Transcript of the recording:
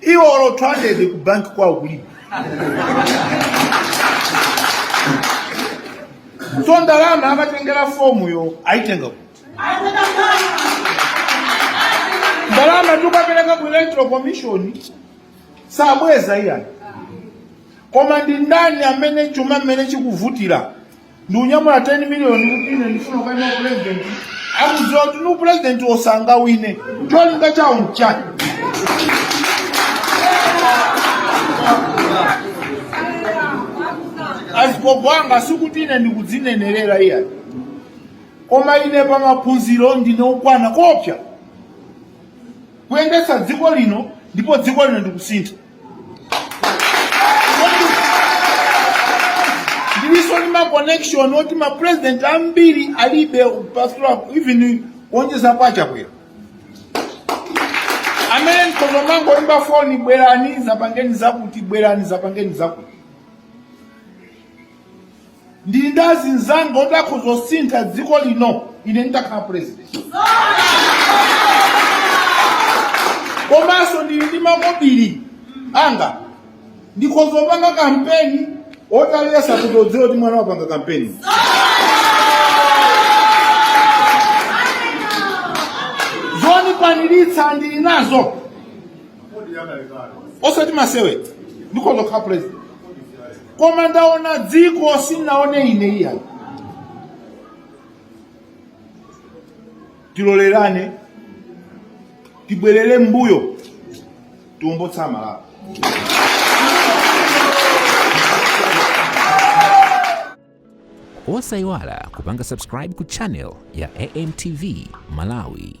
iwo olo 200 ku banki kwawo kulibe so ndalama akatengera fomuyo aitenga kuti ndalama tikapereka ku electoral commission sabweza iyayi koma ndi ndani amene chuma mmene chikuvutira nkunyamula 10 miliyoni kuti ine ndifuna kukaima upulezidenti akudziwa kuti upulezidenti sangawine cholinga chawo nchani azigogo anga sikuti ine ndikudzinenerera iyayi koma ine pa maphunziro ndine okwana kotha kuyendetsa dziko lino ndipo dziko lino ndi kusintha ndiliso ndi ma connection oti ma president ambiri alibe pastor even kuonjeza kwa a Chakwera amene nkutha kumangoimba foni bwerani zapangeni zakuti bwerani zapangeni zakuti ndili ndi azinzanga oti akhoza kusintha dziko lino ine nditakhala president komanso ndili ndi makobiri anga ndikhoza kupanga kampeni oti aliyense akhoza kudziwa kuti mwana wapanga kampeni zoniyeneretsa ndili nazo osati masewera ndikhoza kukhala president koma ndaona dziko sinaone ine iyayi tilolerane tibwerere mbuyo tiwombole Malawi osayiwala kupanga subscribe ku channel ya amtv malawi